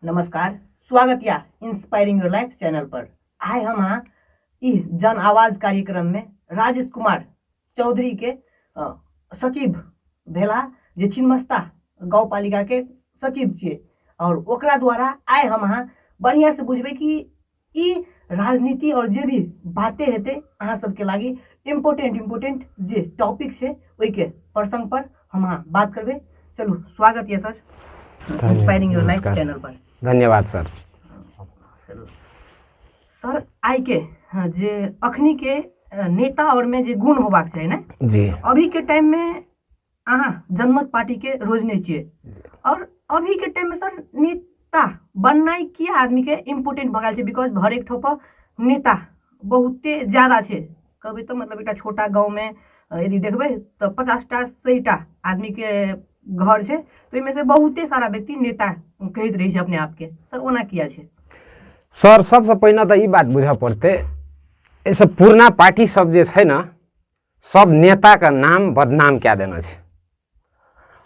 नमस्कार स्वागत या इंस्पायरिंग योर लाइफ चैनल पर आए हम अहाँ ई जन आवाज कार्यक्रम में राजेश कुमार चौधरी के अ, सचिव भेला जे छिन्मस्ता गाँव पालिका के सचिव छिए और ओकरा द्वारा आए हम अहाँ बढ़िया से बुझबे कि ई राजनीति आओर जे भी बाते हेतै अहाँ सबके लागि इम्पोर्टेंट इम्पोर्टेंट जे टॉपिक छै ओहिके प्रसंग पर हम अहाँ बात करबै चलू स्वागत यऽ सर धन्यवाद, इंस्पायरिंग योर लाइफ नमस्कार। चैनल पर धन्यवाद सर चलू सर आइके हँ, जे अखनी के अ, नेता और में जे गुण होबाक चाही ने जी अभी के टाइम में अहाँ जनमत पार्टीके रोजने छियै आओर अभीके टाइममे सर नेता बननाइ किए आदमीके इम्पोर्टेन्ट भऽ गेल छै बिकॉज हरेक ठाउँपर नेता बहुते ज्यादा छै कहबै तऽ मतलब एकटा छोटा गाँवमे यदि देखबै तऽ पचासटा सैटा आदमीके घर छै तऽ ओहिमे से बहुते सारा व्यक्ति नेता कहैत रहै छै अपने आपके सर ओना किए छै सर सबसँ पहिने तऽ ई बात बुझऽ पड़तै एहिसँ पुरना पार्टीसभ जे छै ने सब नेताके नाम बदनाम कए देने छै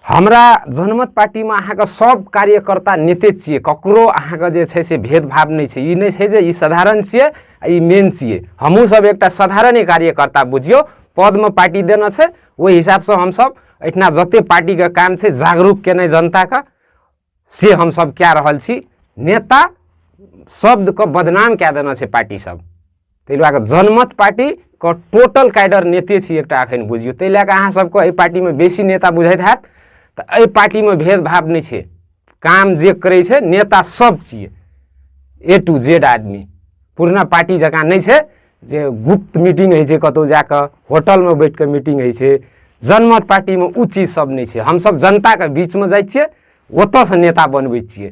हमरा जनमत पार्टीमे अहाँके सब कार्यकर्ता नेते छियै ककरो अहाँके जे छै से भेदभाव नहि छै ई नहि छै जे ई साधारण छियै आ ई मेन छियै हमहूँ सब एकटा साधारणे कार्यकर्ता बुझियौ पदमे पार्टी देने छै ओहि हिसाबसँ हमसभ एहिठिना जतेक पार्टीके काम छै जागरूक केनाइ जनताके से हम सब कए रहल छी नेता शब्द के बदनाम कए देना छै पार्टी सब ताहि लए जनमत पार्टी के टोटल कैडर नेते छी एकटा अखन बुझियो ताहि लए अहाँ सबके एहि पार्टी में बेसी नेता बुझाइत हैत तऽ एहि पार्टी में भेदभाव नहि छै काम जे करै छै नेता सब छियै ए टू जेड आदमी पुरना पार्टी जकाँ नहि छै जे गुप्त मीटिंग होइ छै कतौ जा कऽ होटलमे बैठ कऽ मीटिंग होइ छै जनमत पार्टीमे ओ चीज सब नहि छै हमसब जनताके बीचमे जाइ छियै ओतऽसँ नेता बनबै छियै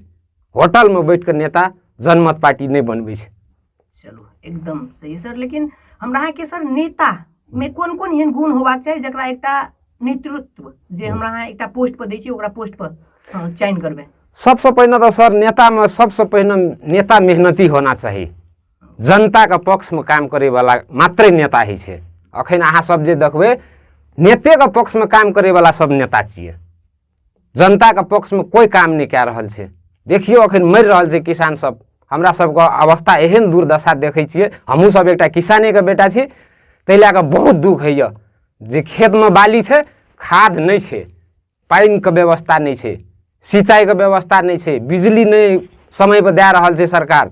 होटलमे बैठ कऽ नेता जनमत पार्टी नहि बनबै छै चलू एकदम सही सर लेकिन हमरा अहाँके सर नेता मे कोन कोन एहन गुण होबाक चाही जकरा एकटा नेतृत्व जे हमरा अहाँ एकटा पोस्ट पर दै छियै ओकरा पोस्ट पर हँ, चयन करबै सबसँ पहिने तऽ सर नेतामे सबसँ पहिने नेता मेहनती होना चाही जनताके पक्षमे काम करैवला मात्रै नेता होइ छै अखन अहाँसभ जे देखबै नेतेके पक्षमे काम करैवला सभ नेता छियै जनताके पक्षमे कोइ काम नहि कए रहल छै देखियौ अखन मरि रहल छै किसानसभ हमरा सभके अवस्था एहन दुर्दशा देखै छियै हमहूँसभ एकटा किसानेके बेटा छी ताहि लए कऽ बहुत दुःख होइए जे खेतमे बाली छै खाद नहि छै पानिके व्यवस्था नहि छै सिंचाइके व्यवस्था नहि छै बिजली नहि समयपर दए रहल छै सरकार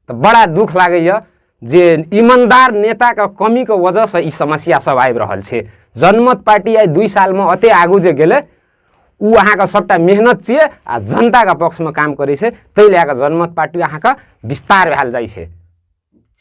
तऽ बड़ा दुख लागैए जे ईमानदार नेताके कमीके वजहसँ ई समस्या सब आबि रहल छै जनमत पार्टी आइ दुई सालमे एतेक आगू जे गेलै ओ अहाँके सभटा मेहनत छियै आ जनताके पक्षमे काम करै छै ताहि लए कऽ जनमत पार्टी अहाँके विस्तार भेल जाइ छै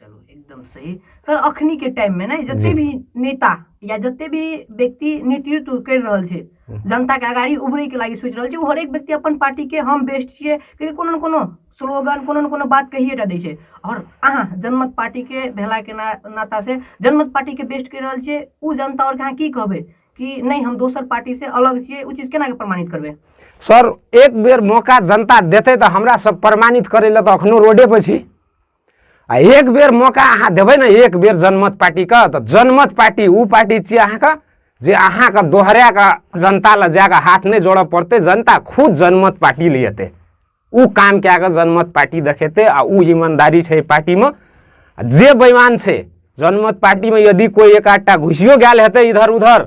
चलो एकदम सही सर अखनी के टाइम में ना जते भी नेता या जते भी व्यक्ति नेतृत्व कर रहल छै हम्म। जनता के अगाड़ी उभरे के लागी सोच रहल छै हर एक व्यक्ति अपन पार्टी के हम बेस्ट छिए क्योंकि कोनो न कोनो स्लोगन कोनो न कोनो बात कहिए टा दै छै और अहाँ जनमत पार्टी के भेला के ना, नाता से जनमत पार्टी के बेस्ट कर रहल छै उ जनता और कहाँ की कहबे कि नहीं हम दोसर पार्टी से अलग छिए उ चीज केना के प्रमाणित करबे सर एक बेर मौका जनता देते तो हमरा सब प्रमाणित करे ले तो अखनो रोडे पर छी आ एक बेर मौका अहाँ देबै ने एक बेर जनमत पार्टीके तऽ जनमत पार्टी ओ पार्टी छियै अहाँके जे अहाँके दोहरा कऽ जनता लग जा कऽ हाथ नहि जोड़य पड़तै जनता खुद जनमत पार्टी ले अयतै ओ काम कए कऽ जनमत पार्टी देखेतै आ ओ ईमानदारी छै पार्टीमे जे बेमान छै जनमत पार्टीमे यदि कोइ एक आधटा घुसियो गेल हेतै इधर उधर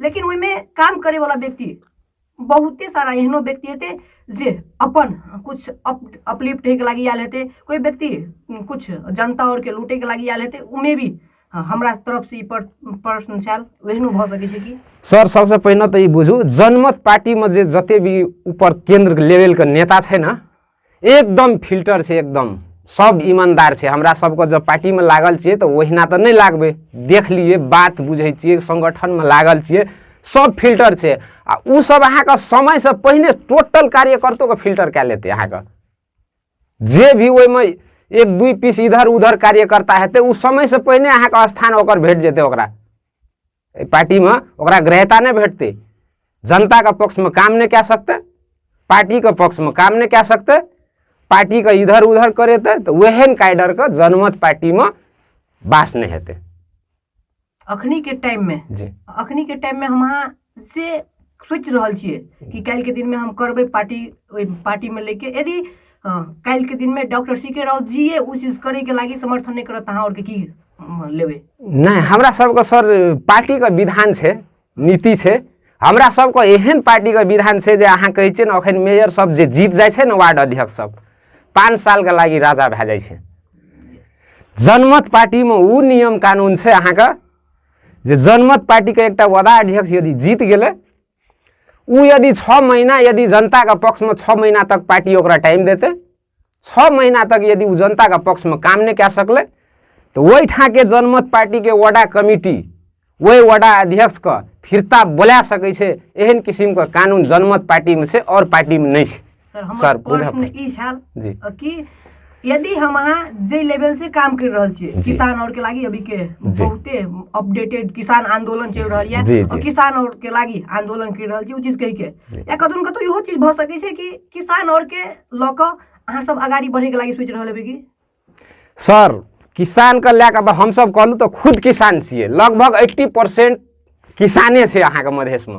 लेकिन ओहिमे काम करैवला व्यक्ति बहुते सारा एहनो व्यक्ति हेतै जे अपन किछु अप अपलिफ्ट होइके लागि आयल हेतै कोइ व्यक्ति किछु जनता आओरके लूटैके लागि आयल हेतै ओहिमे भी हँ, हमरा तरफसँ ई पर- प्रश्न छल ओहनो भऽ सकै छै कि सर सबसे पहिने तऽ ई बुझू जनमत पार्टीमे जे जते भी ऊपर केंद्र लेवलके नेता छै ने एकदम फिल्टर छै एकदम सब ईमानदार छै हमरा सबके जब पार्टीमे लागल छियै तऽ ओहिना तऽ नहि लागबै देख लिए बात बुझै छियै सङ्गठनमे लागल छियै सब फिल्टर छै आ ओ सब अहाँके समयसँ पहिने टोटल कार्यकर्तोके फिल्टर कए लेतै अहाँके जे भी ओहिमे एक दुई पीस इधर उधर कार्यकर्ता हेतै ओ समयसँ पहिने अहाँके स्थान ओकर भेट जेतै ओकरा एहि पार्टीमे ओकरा ग्रहता नहि भेटतै जनताके पक्षमे काम नहि कए सकतै पार्टीके पक्षमे काम नहि कए सकतै पार्टीके इधर उधर करेतै तऽ ओहन काइडरके जनमत पार्टीमे बास नहि हेतै अखनी के टाइम में जी अखनी के टाइम में हम अहाँ से सोचि रहल छियै कि काल्हि के दिन में हम करबै पार्टी ओहि पार्टी में लेके यदि हँ काल्हिके दिनमे doctor C K Raut ji ओ चीज करैके लागि समर्थन नहि करत अहाँ आओरके की लेबै नहि हमरा सबके सर पार्टीके विधान छै नीति छै हमरा सबके एहन पार्टीके विधान छै जे अहाँ कहै छियै ने एखन मेयर सब जे जीत जाइ छै ने वार्ड अध्यक्ष सब पाँच सालके लागि राजा भए जाइ छै जनमत पार्टीमे ओ नियम कानून छै अहाँके जे जनमत पार्टीके एकटा वडा अध्यक्ष यदि जीत गेलै ऊ यदि छः महीना यदि जनता का पक्ष में छः महीना तक पार्टी ओकरा टाइम देते छः महीना तक यदि ऊ जनता का पक्ष में काम नहीं कह सकले तो वही ठा के जनमत पार्टी के वडा कमिटी वही वडा अध्यक्ष का फिरता बोला सके एहन किसिमको कानुन जनमत पार्टीमा छ अरू पार्टीमा नै छ सर हमर सर, पूरा प्रश्न प्रश्न। ई छल जी कि यदि हम अहाँ जे लेवल से काम कर रहल छियै जी। किसान और के लागी अभी के जी। बहुते अपडेटेड किसान आंदोलन चल रहल यऽ जी, और जी। किसान और के लागी आंदोलन कर रहल छियै ओ चीज कहि के जी। या कतौ ने कतौ इहो चीज भऽ सकै छै कि किसान और के लऽ कऽ अहाँ सब अगाड़ी बढ़े के लागी सोचि रहल हेबै कि सर किसानके लए कऽ अब हमसभ कहलहुँ तऽ खुद किसान छियै लगभग एट्टी परसेंट किसाने छै अहाँके मधेशमे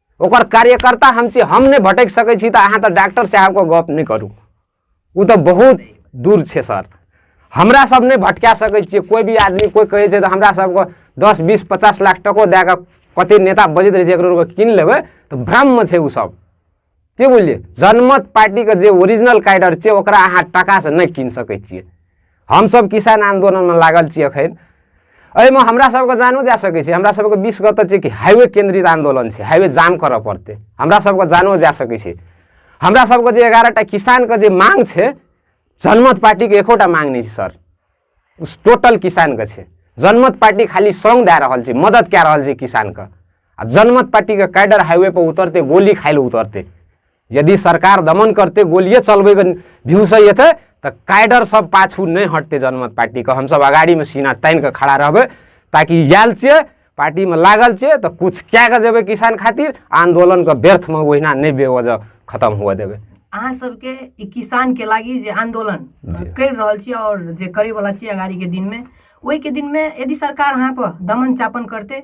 ओकर कार्यकर्ता हम छी हम नहि भटक सकै छी तऽ अहाँ तऽ डॉक्टर साहबके गप नहि करू ओ तऽ बहुत दूर छै सर हमरा सब नहि भटका सकै छियै कोइ भी आदमी कोइ कहै छै तऽ हमरा सबके दस बीस पचास लाख टको दए कऽ कते नेता बजैत रहै छै एकरो कीन लेबै तऽ भ्रममे छै ओ सब के बुझलियै जनमत पार्टीके जे ओरिजिनल कैडर छै ओकरा अहाँ टाकासँ नहि कीन सकै छियै हमसभ किसान आन्दोलनमे लागल छी एखन एहिमे हमरा सबके जानो जा सकै छै हमरा सबके बीस गते छै कि हाइवे केन्द्रित आन्दोलन छै हाइवे जाम करऽ पड़तै हमरा सबके जानो जा सकै छै हमरा सबके जे एगारहटा किसानके जे मांग छै जनमत पार्टीके एकोटा मांग नहि छै सर टोटल किसानके छै जनमत पार्टी खाली सङ्ग दए रहल छै मदत कए रहल छै किसानके आ जनमत पार्टीके कैडर हाइवे पर उतरते गोली खाइ लए उतरते यदि सरकार दमन करते गोलिए चलबे भ्यूस अतः तो कैडर सब पाछू नहीं हटते जनमत पार्टी के हम सब अगाड़ी में सीना तान के खड़ा रहबे ताकि आयल छे पार्टी में लागल छे तो कुछ क्या के जेबे किसान खातिर आंदोलन के व्यर्थ में वहीना नहीं बेवजह खत्म हुआ देवे अहाँ सबके ई किसान के लागी जे आंदोलन जी। कर रहल छी और जे करे वाला छी अगाड़ी के दिन में ओहि के दिन में यदि सरकार अहाँ पर दमन चापन करते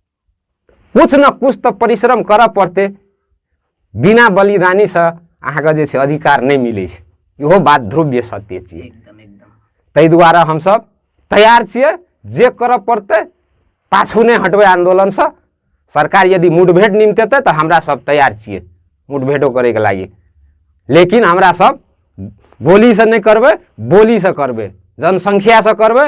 कुछ न कुछ तऽ परिश्रम करऽ पड़तै बिना बलिदानीसँ अहाँके जे छै अधिकार नहि मिलै छै इहो बात ध्रुव्य सत्य छियै एकदम एकदम ताहि दुआरे हमसभ तैयार छियै जे करऽ पड़तै पाछू नहि हटबै आन्दोलनसँ सरकार यदि मुठभेड़ निमतेतै तऽ हमरा सब तैयार छियै मुठभेड़ो करैके लागि लेकिन हमरा सब गोलीसँ नहि करबै बोलीसँ करबै जनसङ्ख्यासँ करबै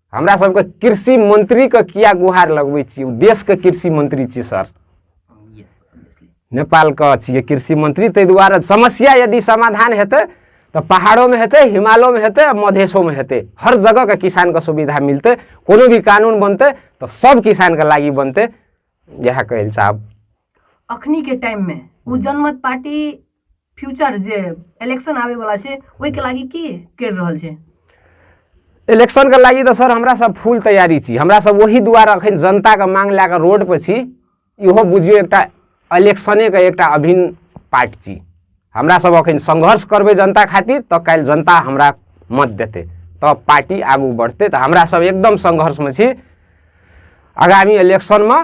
हमरा सबके कृषि मंत्री के किया गुहार लगबै छी देश के कृषि मंत्री छी सर नेपाल के छियै कृषि मंत्री ताहि दुआरे समस्या यदि समाधान हेतै तो पहाड़ों में हेतै हिमालयों में हेतै मधेशों में हेतै हर जगह के किसान के सुविधा मिलते कोनो भी कानून बनते तो सब किसान के लागी बनते यह कहल साहब अखनी के टाइम में उ जनमत पार्टी फ्यूचर जे इलेक्शन आवे वाला छै ओहि के लागी की कर रहल छै इलेक्शन के लागी तो सर हमरा सब फुल तैयारी छी हमरा सब वही दुआरे अखन जनता के मांग लए कऽ रोड पर छी इहो बुझियो एकटा इलेक्शने के एकटा अभिन्न पार्ट छी हमरा सब अखन संघर्ष करबे जनता खातिर तो कल जनता हमरा मत देते तो पार्टी आगू बढ़ते तो हमरा सब एकदम संघर्ष में छी आगामी इलेक्शन में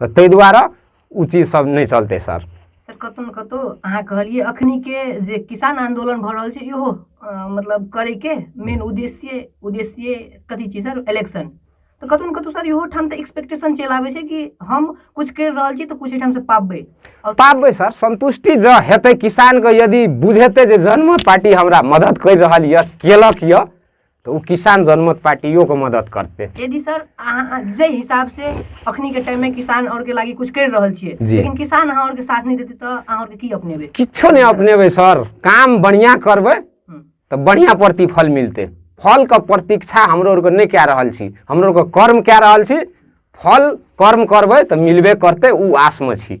तऽ ताहि दुआरे ओ चीज सब नहि चलतै सर सर कतहु ने कतहु अहाँ कहलियै अखनी के जे किसान आंदोलन भऽ रहल छै इहो अ, मतलब करे के मेन उद्देश्य उद्देश्य कथी छै सर इलेक्शन तऽ कतहु ने कतहु सर इहो ठाम तऽ एक्सपेक्टेशन चलि आबै छै कि हम कुछ करि रहल छी तऽ कुछ एहिठाम से पाबबै आओर पाबबै सर संतुष्टि जँ हेतै किसानके यदि बुझेतै जे जन्म पार्टी हमरा मदद करि रहल यऽ केलक यऽ तऽ ओ किसान जनमत पार्टियोके मदत करतै यदि सर अहाँ जे हिसाब से अखनी के टाइम में किसान और के लागी कुछ कर रहल छियै जी। लेकिन किसान अहाँ और के साथ नहीं देते तो अहाँ और के की अपनेबे किछो नहि अपनेबै सर काम बढ़िया करबै हम्म, तऽ बढ़िया प्रतिफल मिलतै फलके प्रतीक्षा हमरो आरके नहि कए रहल छी हमरो आरके कर्म कए रहल छी फल कर्म करबै तऽ मिलबे करतै ओ आसमे छी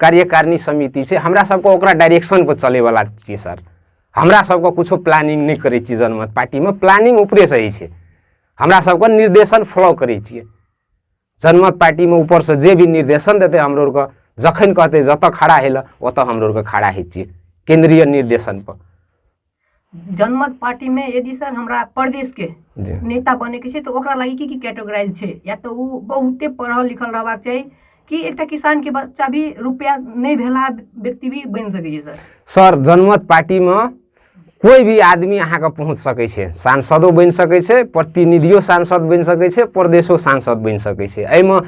कार्यकारिणी समिति छै हमरा सबके ओकरा डायरेक्शन पर चले वाला छियै सर हमरा सबके कुछो प्लानिंग नहि करै छियै जनमत पार्टीमे प्लानिंग ऊपरे से होइ छै हमरा सबके निर्देशन फॉलो करै छियै जनमत पार्टीमे ऊपर से जे भी निर्देशन देतै हमरो आरके जखन कहतै जतऽ खड़ा हेलऽ ओतऽ हमरो आरके खड़ा होइ छियै केंद्रीय निर्देशन पर जनमत पार्टी में यदि सर हमरा प्रदेश के जी नेता बने के छै तो ओकरा लागी की की कैटेगराइज छै या तो उ बहुते पढ़ल लिखल रहबाक चाही कि एकटा किसान के बच्चा भी रुपया नहीं भेला व्यक्ति भी बन सके छै सर सर जनमत पार्टीमे कोइ भी आदमी अहाँके पहुँच सकै छै सांसदो बनि सकै छै प्रतिनिधियो सांसद बनि सकै छै प्रदेशो सांसद बनि सकै छै एहिमे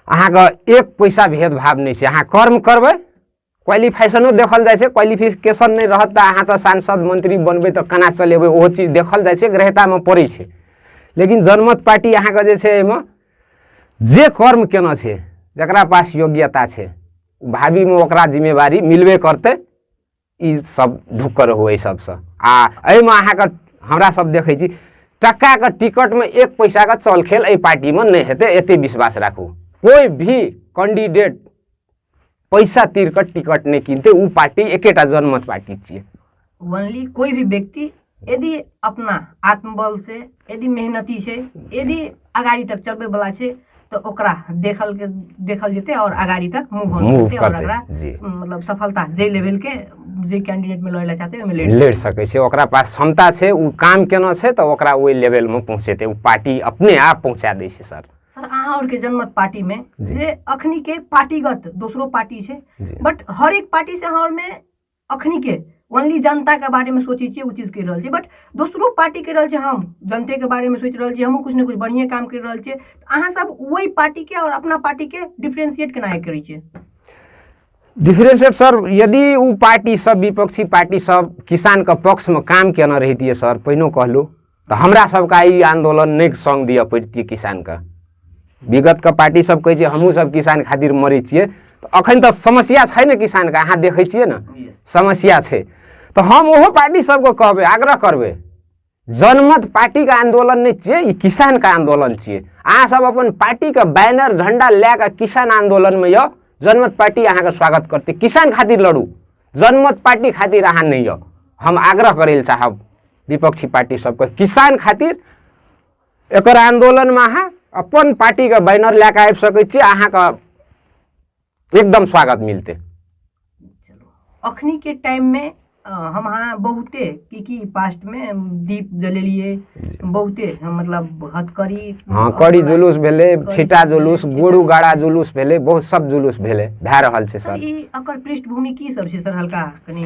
अहाँके एक पैसा भेदभाव नहि छै अहाँ कर्म करबै क्वालिफिकेशनो देखल जाइ छै क्वालिफिकेशन नहि रहत तऽ अहाँ तऽ सांसद मंत्री बनबै तऽ केना चलेबै ओहो चीज देखल जाइ छै ग्रहतामे पड़ै छै लेकिन जनमत पार्टी अहाँके जे छै एहिमे जे कर्म केना छै जकरा पास योग्यता छै भावीमे ओकरा जिम्मेवारी मिलबे करतै ई सब ढुक्कर हो एहि सबसँ आ एहिमे अहाँके हमरा सब देखै छी टक्काके टिकटमे एक पैसाके चलखेल एहि पार्टीमे नहि हेतै एतेक विश्वास राखू कोइ भी कैंडिडेट पैसा तिर के टिकट नहीं किनते उ पार्टी एकेटा जनमत पार्टी छे ओनली कोई भी व्यक्ति यदि अपना आत्मबल से यदि मेहनती से यदि अगाड़ी तक चलबे वाला छे तो ओकरा देखल के देखल जेते और अगाड़ी तक मूव हो मूव जेते और करते, अगला जी। मतलब सफलता जे लेवल के जे कैंडिडेट में लड़े ला चाहते ओमे ले लेड़ सके छे ओकरा पास क्षमता छे उ काम केना छे तो ओकरा ओई लेवल में पहुंचेते उ पार्टी अपने आप पहुंचा दे छे सर सर अहाँ और के जनमत पार्टी में जी। जे अखनी के पार्टीगत दोसरो पार्टी छै जी बट हर एक पार्टी से अहाँ और में अखनी के ओनली जनता के बारे में सोचे छियै उ चीज कर रहल छियै बट दोसरो पार्टी कर रहल छै हम जनते के बारे में सोच रहल छियै हमहूँ कुछ ने कुछ बढ़िया काम कर रहल छियै तऽ अहाँ सब वही पार्टी के और अपना पार्टी के डिफ्रेंशिएट केना हे करै छियै डिफरेंशिएट सर यदि ओ पार्टी सब विपक्षी पार्टी सब किसान के पक्ष में काम केना रहितियै सर पहिनो कहलहुँ तऽ हमरा सबके ई आंदोलन नहि सङ्ग दिअ पड़ितियै किसानके विगतके पार्टी सब कहै छै हमहूँ सब किसान खातिर मरै छियै तऽ अखन तऽ समस्या छै ने किसानके अहाँ देखै छियै ने समस्या छै तऽ हम ओहो पार्टी सबके कहबै आग्रह करबै जनमत पार्टीके आन्दोलन नहि छियै ई किसानके आन्दोलन छियै अहाँ सब अपन पार्टीके बैनर झंडा लए कऽ किसान आन्दोलनमे यौ जनमत पार्टी अहाँके स्वागत करतै किसान खातिर लड़ू जनमत पार्टी खातिर अहाँ नहि यौ हम आग्रह करै लए चाहब विपक्षी पार्टी सबके किसान खातिर एकर आंदोलनमे अहाँ अपन पार्टीके बैनर लए कऽ आबि सकै छी अहाँके एकदम स्वागत मिलतै अखनी के टाइम में अ, हम अहाँ बहुते की की पास्ट में दीप जलेलिए बहुते अ, मतलब हथकड़ी हँ कड़ी जुलूस भेलै छिटा जुलूस गुरु गाड़ा जुलूस भेलै बहुत सब जुलूस भेलै भए रहल छै सर सर ई एकर पृष्ठभूमि की सब छै सर हल्का कनी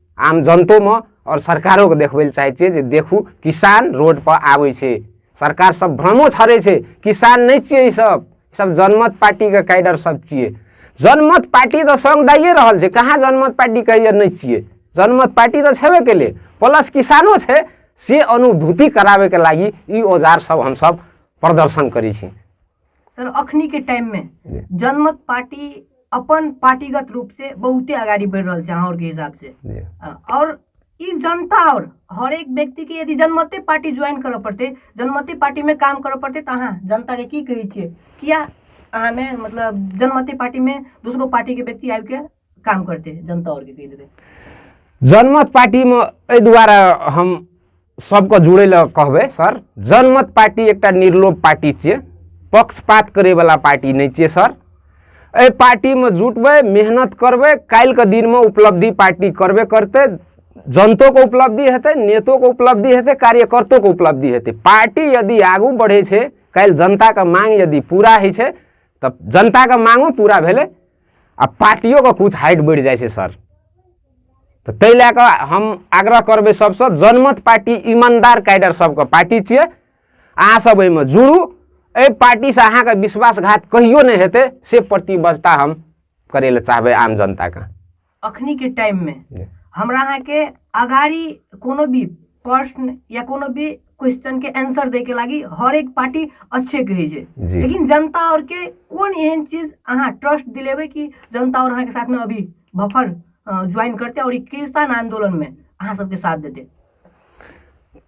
आम जनतोमे आओर सरकारोके देखबै लए चाहै छियै जे देखू किसान रोडपर आबै छै सरकार सब भ्रमो छड़ै छै किसान नहि छियै ई सब सब जनमत पार्टीके कैडर सब छियै जनमत पार्टी तऽ सङ्ग दाइए रहल छै कहाँ जनमत पार्टी कहिए नहि छियै जनमत पार्टी तऽ छेबे केले प्लस किसानो छै से अनुभूति कराबैके लागि ई औजार सब हमसब प्रदर्शन करै छी तर अखनीके टाइममे जनमत पार्टी अपन पार्टीगत रूप से बहुते अगाडि बढि रहल छै अहाँके हिसाब से जी अ, और ई जनता और हरेक व्यक्ति के यदि जनमते पार्टी ज्वाइन करऽ पड़ते जनमते पार्टी में काम करऽ पड़ते तऽ अहाँ जनता के की कहै छियै किया अहाँ में मतलब जनमते पार्टी में दोसरो पार्टी के व्यक्ति आबि के काम करते जनता और के कह देवे जनमत पार्टी में एहि दुआरे हम सबके जुड़े ला कहबे सर जनमत पार्टी एक निर्लोभ पार्टी छे पक्षपात करे वाला पार्टी नहीं छे सर ए पार्टी में जुटबे मेहनत करबे कल के दिन में उपलब्धि पार्टी करबे करते जनतो के उपलब्धि हेतु नेतो के उपलब्धि हेतु कार्यकर्तो के उपलब्धि हेतु पार्टी यदि आगू बढ़े कल जनता के मांग यदि पूरा है तब जनता के मांगो पूरा भेले आ पार्टियोके किछु हाइट बढ़ि जाइ छै सर तऽ ताहि लए कऽ हम आग्रह करबै सभसँ जनमत पार्टी ईमानदार कैडर सभके पार्टी छियै अहाँसभ एहिमे जुड़ू एहि पार्टीसँ अहाँके विश्वासघात कहियो नहि हेतै से प्रतिबद्धता हम करै लए चाहबै आम जनताके अखनीके टाइममे जी। हमरा अहाँके अगाडि कोनो भी प्रश्न या कोनो भी क्वेश्चन के आंसर दै के लागि हर एक पार्टी अच्छे कहै छै जी। लेकिन जनता और के कोन एहन चीज अहाँ ट्रस्ट दिलेबै कि जनता और अहाँके साथमे अभी बफर ज्वाइन करतै और ई किसान आंदोलन में अहाँ सबके साथ देतै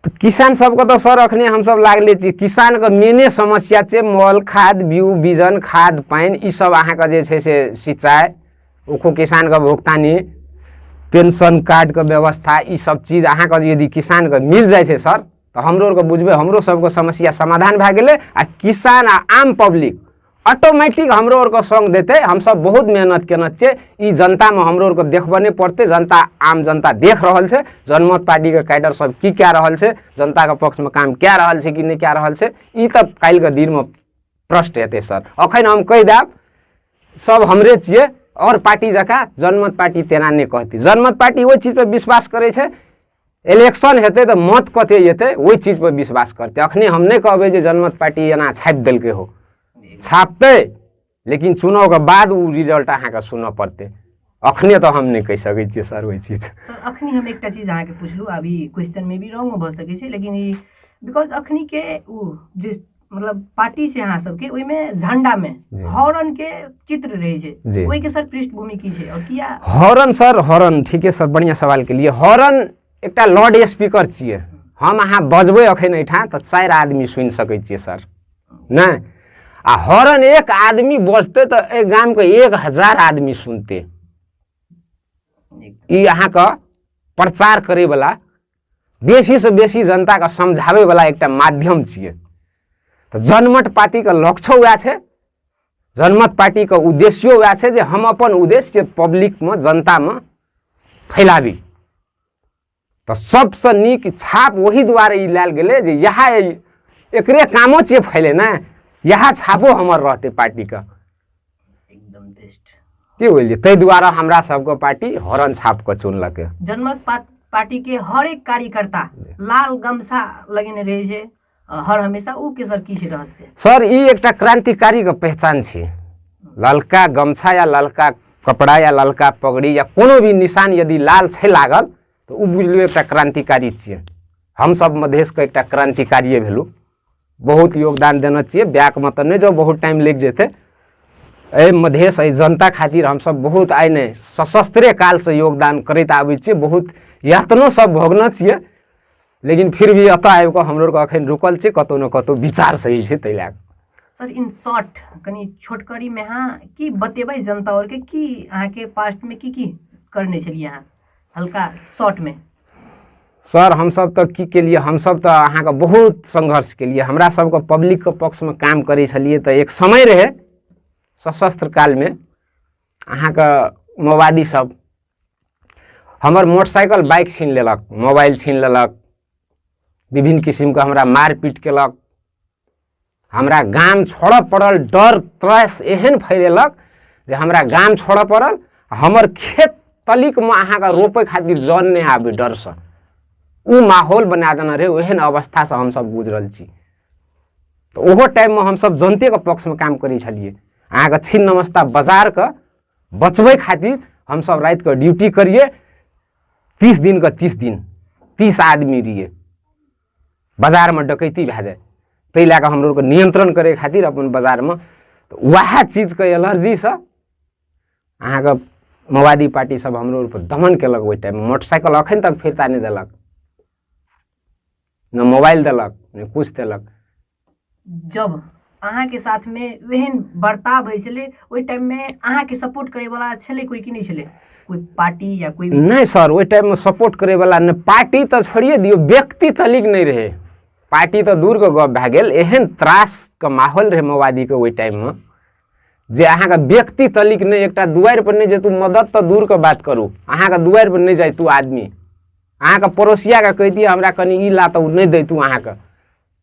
तऽ किसान सबके तऽ सर अखने हमसब लागले छी किसान के मेने समस्या छै मॉल खाद बीउ बीजन खाद पानि ई सब अहाँके जे छै से सिंचाइ ओको किसान के भुगतानी पेंशन कार्ड के व्यवस्था ई सब चीज अहाँके यदि किसान के मिल जाइ छै सर तऽ हमरो आरके बुझबै हमरो सबके समस्या समाधान भए गेलै आ किसान आ आम पब्लिक ऑटोमेटिक हमरो आरके सङ्ग देतै हमसभ बहुत मेहनत केने छियै ई जनतामे हमरो आरके देखबऽ नहि पड़तै जनता आम जनता देख रहल छै जनमत पार्टीके कैडर सब की कए रहल छै जनताके पक्षमे काम कए रहल छै कि नहि कए रहल छै ई तऽ काल्हिके दिनमे प्रश्न हेतै सर अखन हम कहि देब सब हमरे छियै आओर पार्टी जकाँ जनमत पार्टी तेना नहि कहतै जनमत पार्टी ओहि चीजपर विश्वास करै छै इलेक्शन हेतै तऽ मत कते जेतै ओहि चीज पर विश्वास करतै अखने हम नहि कहबै जे जनमत पार्टी एना छापि देलकै हो छापतै लेकिन चुनावके बाद ओ रिजल्ट अहाँके सुनऽ पड़तै अखने तऽ हम नहि कहि सकै छियै सर ओहि चीज सर अखनी हम एकटा चीज अहाँके पुछलहुँ अभी क्वेश्चन मे भी रॉन्गो भऽ सकै छै लेकिन ई बिकॉज अखनी के ओ जे मतलब पार्टी छै अहाँ सबके ओहिमे झंडा मे जी। हॉर्न के चित्र रहे छै जी। ओहि के सर पृष्ठभूमि की छै और किया हॉर्न सर हॉर्न ठीके सर बढ़िया सवाल के लिए हॉर्न एकटा लाउड स्पीकर छियै हम अहाँ बजबै अखन एहिठाम तऽ चारि आदमी सुनि सकै छियै सर नहि आ हॉर्न एक आदमी बजतै तऽ एहि गामके एक हजार आदमी सुनतै ई अहाँके प्रचार करैवला बेसीसँ बेसी जनताके समझाबैवला एकटा माध्यम छियै तऽ जनमत पार्टीके लक्ष्यो वएह छै जनमत पार्टीके उद्देश्यो वएह छै जे हम अपन उद्देश्य पब्लिकमे जनतामे फैलाबी तऽ सबसँ नीक छाप ओहि दुआरे ई लायल गेलै जे इएह एकरे कामो छियै फैलेनाइ इएह छापो हमर रहतै पार्टीके एकदम बेस्ट के बोलिए ताहि दुआरे हमरा सबके पार्टी हॉर्न छाप कऽ चुनलकै जनमत पा- पार्टी के हर एक कार्यकर्ता लाल गमछा लगेने रहे छै अ, हर हमेशा ऊ के सर की छै रहस्य सर ई एकटा क्रान्तिकारीके पहचान छै ललका गमछा या ललका कपड़ा या ललका पगड़ी या कोनो भी निशान यदि लाल छै लागल तऽ ओ बुझलियौ एकटा क्रान्तिकारी छियै हमसभ मधेशके एकटा क्रान्तिकारिए भेलहुँ बहुत योगदान देने छियै बैकमे तऽ नहि जाउ बहुत टाइम लागि जेतै एहि मधेश एहि जनता खातिर हमसभ बहुत आइ नहि सशस्त्रे कालसँ योगदान करैत आबै छियै बहुत यातनो सब भोगने छियै लेकिन फिर भी एतऽ आबि कऽ हमरो आरके एखन रुकल छै कतहु ने कतहु विचार सही छै ताहि लए कऽ सर इन शॉर्ट कनि छोटकरीमे अहाँ की बतेबै जनता आओरके की अहाँके पास्टमे की की करने छलियै अहाँ हल्का शॉर्ट में सर हमसभ तऽ की केलियै हमसभ तऽ अहाँके बहुत संघर्ष केलियै हमरा सभके पब्लिकके पक्षमे काम करै छलियै तऽ एक समय रहै सशस्त्र कालमे अहाँके मोबाइली सब हमर मोटरसाइकिल बाइक छीन लेलक मोबाइल छीन लेलक विभिन्न किसिमके हमरा मारपीट केलक हमरा गाम छोड़ऽ पड़ल डर त्रस एहन फैलेलक जे हमरा गाम छोड़ऽ पड़ल हमर खेत तलिकमे अहाँके रोपै खातिर जन नहि आबै डरसँ ओ माहौल बना देने रहै ओहन अवस्थासँ हमसभ गुजरल छी तऽ ओहो टाइममे हमसभ जनतेके पक्षमे काम करै छलिए अहाँके छिन नमस्ता बजारके बचबै खातिर हमसभ रातिके ड्यूटी करिए तीस दिनके तीस दिन तीस आदमी रहिए बाजारमे डकैती भए जाए ताहि लए कऽ हमरो नियन्त्रण करै खातिर अपन बाजारमे उएह चीजके एलर्जीसँ अहाँके माओवादी पार्टी सब हमरो ऊपर दमन केलक ओहि टाइममे मोटरसाइकिल अखन तक फिरता नहि देलक ने मोबाइल देलक ने किछु देलक जब अहाँके साथमे ओहन बर्ताव होइ छलै ओहि टाइममे अहाँके सपोर्ट करैवला छलै कोइ कि नहि छलै कोइ पार्टी या कोइ नहि सर ओहि टाइममे सपोर्ट करैवला नहि पार्टी तऽ छोड़िए दियौ व्यक्ति तलिक नहि रहै पार्टी तऽ दूरके गप भए गेल एहन त्रासके माहौल रहै माओवादीके ओहि टाइममे जे अहाँके व्यक्ति तलिक नहि एकटा दुआरि पर नहि जेतू मदद तऽ दूरके बात करू अहाँके दुआरि पर नहि जाइतू आदमी अहाँके पड़ोसियाके कहि दिअ हमरा कनि ई ला तऽ ओ नहि दैतू अहाँके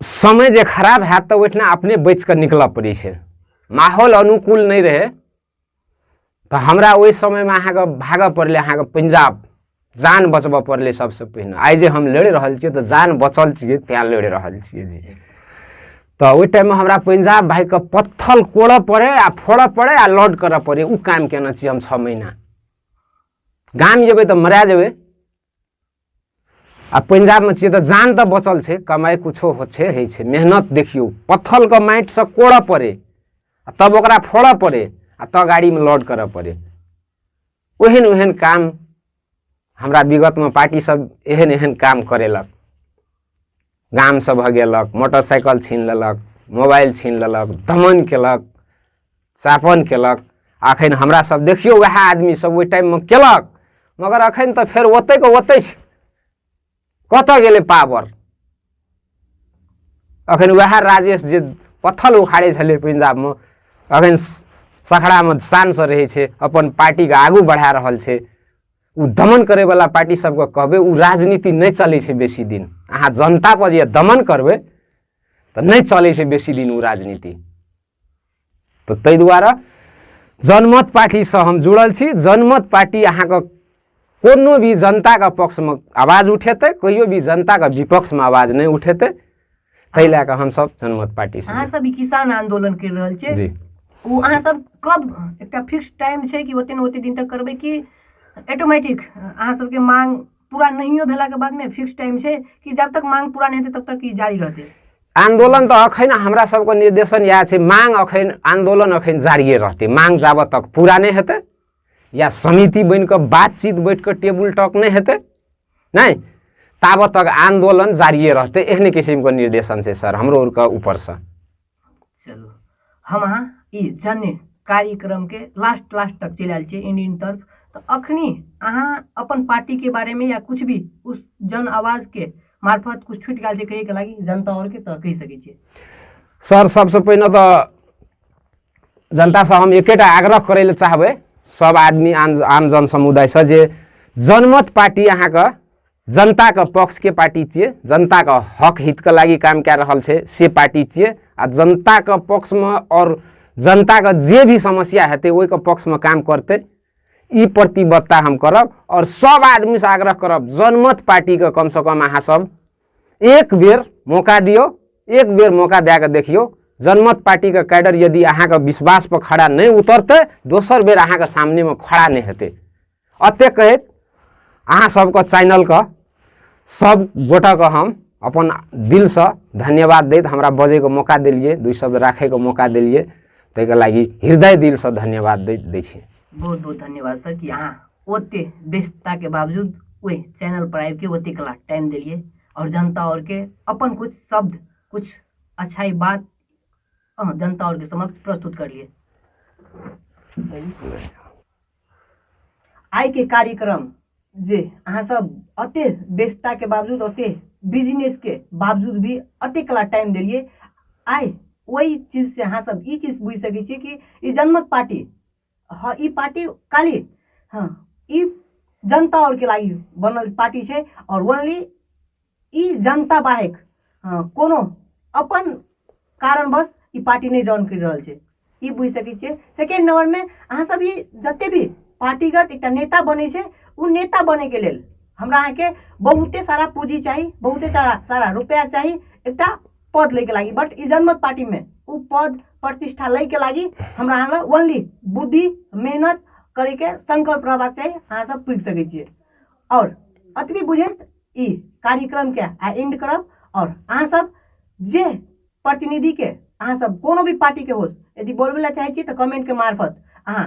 समय जे खराब हैत तऽ ओहिठिना अपने बचि कऽ निकलऽ पड़ै छै माहौल अनुकूल नहि रहै तऽ हमरा ओहि समयमे अहाँके भागऽ पड़लै अहाँके पंजाब जान बचबऽ पड़लै सबसँ पहिने आइ जे हम लड़ि रहल छियै तऽ जान बचल छियै तैँ लड़ि रहल छियै जी तऽ ओहि टाइममे हमरा पंजाब भाइके पत्थल कोड़ऽ पड़ै आ फोड़ऽ पड़ै आ लौट करऽ पड़ै ओ काम केने छियै हम छओ महीना गाम जेबै तऽ मरा जेबै आ पंजाबमे छियै तऽ जान तऽ बचल छै कमाइ किछो होइ छै होइ छै मेहनत देखियौ पत्थलके माटिसँ कोड़ऽ पड़े आ तब ओकरा फोड़ऽ पड़े आ तब गाड़ीमे लोड करऽ पड़े ओहन ओहन काम हमरा विगतमे पार्टीसभ एहन एहन काम करेलक गामसँ भगेलक मोटरसाइकिल छीन लेलक मोबाइल छीन लेलक दमन केलक चापन केलक अखन हमरा सब देखियौ वएह आदमी सब ओहि टाइममे केलक मगर अखन तऽ फेर ओतै के ओतै छै कतऽ गेलै पावर अखन वएह राजेश जे पत्थल उखाड़े छलै पंजाबमे अखन सखड़ामे शानसँ रहै छै अपन पार्टीके आगू बढ़ा रहल छै ओ दमन करैवला पार्टी सबके कहबै ओ राजनीति नहि चलै छै बेसी दिन अहाँ जनतापर जे दमन करबै तऽ नहि चलै छै बेसी दिन ओ राजनीति तऽ ताहि दुआरे जनमत पार्टीसँ हम जुड़ल छी जनमत पार्टी अहाँके कोनो भी जनताके पक्षमे आवाज उठेतै कहियो भी जनताके विपक्षमे आवाज नहि उठेतै ताहि लए कऽ हमसभ जनमत पार्टी से अहाँ सब ई किसान आंदोलन कर रहल छियै जी ओ अहाँ सब कब एकटा फिक्स टाइम छै कि ओते ने ओते दिन तक करबै कि ऑटोमेटिक अहाँ सबके मांग पूरा नहियो भेला के बाद में फिक्स टाइम छै कि जब तक मांग पूरा नहीं हेतै तब तक ई जारी रहतै आंदोलन तऽ अखन हमरा सबके निर्देशन इएह छै मांग अखन आंदोलन अखन जारिए रहतै मांग जाबत तक पूरा नहि हेतै या समिति बनि कऽ बातचीत बैठ कऽ टेबुल टॉक नहि हेतै नहि ताबत तक आंदोलन जारिए रहतै एहने किसिमके निर्देशन छै सर हमरो आरके ऊपरसँ चलू हम अहाँ ई जन्य कार्यक्रमके लास्ट लास्ट तक चलि आयल छियै इन इन तरफ तऽ अखनी अहाँ अपन पार्टीके बारेमे या किछु भी उस जन आवाजके मार्फत किछु छुटि गेल छै कहैके लागि जनता आओरके तऽ कहि सकै छियै सर सबसँ पहिने तऽ जनतासँ हम एकेटा आग्रह करै लए चाहबै सब आदमी आम आम जन समुदायसँ जे जनमत पार्टी अहाँके जनताके पक्षके पार्टी छियै जनताके हक हितके लागि काम कए रहल छै से पार्टी छियै आ जनताके पक्षमे आओर जनताके जे भी समस्या हेतै ओहिके पक्षमे काम करतै ई प्रतिबद्धता हम करब आओर सब आदमीसँ आग्रह करब जनमत पार्टीके कमसँ कम अहाँसभ एक बेर मौका दियौ एक बेर मौका दए कऽ देखियौ जनमत पार्टीके कैडर यदि अहाँके विश्वासपर खड़ा नहि उतरतै दोसर बेर अहाँके सामनेमे खड़ा नहि हेतै एतेक कहैत अहाँ सबके चैनलके सब गोटाके हम अपन दिलसँ धन्यवाद दैत हमरा बजैके मौका देलिए दुई शब्द राखैके मौका देलिए ताहिके लागि हृदय दिलसँ धन्यवाद दै दै छी बहुत बहुत धन्यवाद सर कि अहाँ ओते व्यस्तताके बावजूद ओहि चैनल पर आबिके ओते कला टाइम देलियै आओर जनता आओरके अपन कुछ शब्द कुछ अच्छाइ बात अहाँ जनता आओरके समक्ष प्रस्तुत करलियै आइके कार्यक्रम जे अहाँ सब अते व्यस्तताके बावजूद अते बिजनेसके बावजूद भी अते कला टाइम देलियै आइ ओहि चीजसँ अहाँ सब ई चीज बुझि सकै छियै कि ई जनमत पार्टी हँ ई पार्टी काल्हि हँ ई जनता आओरके लागि बनल पार्टी छै आओर ओनली ई जनता बाहेक हँ कोनो अपन कारणवश ई पार्टी नहि जॉइन करि रहल छै ई बुझि सकै छियै सेकेण्ड नंबरमे अहाँसभ ई जतेक भी पार्टीगत एकटा नेता बनै छै ओ नेता बनयके लेल हमरा अहाँके बहुते सारा पूँजी चाही बहुते सारा सारा रुपैआ चाही एकटा पद लैके लागि बट ई जनमत पार्टीमे ओ पद प्रतिष्ठा लैके लागि हमरा अहाँ लग ओनली बुद्धि मेहनत करैके सङ्कल्प रहबाक चाही अहाँसभ पुगि सकै छियै आओर अतबी बुझैत ई कार्यक्रमके आ एंड करब आओर अहाँसभ जे प्रतिनिधिके अहाँसभ कोनो भी पार्टीके होस यदि बोलबै लए चाहै छी तऽ कमेंटके मार्फत अहाँ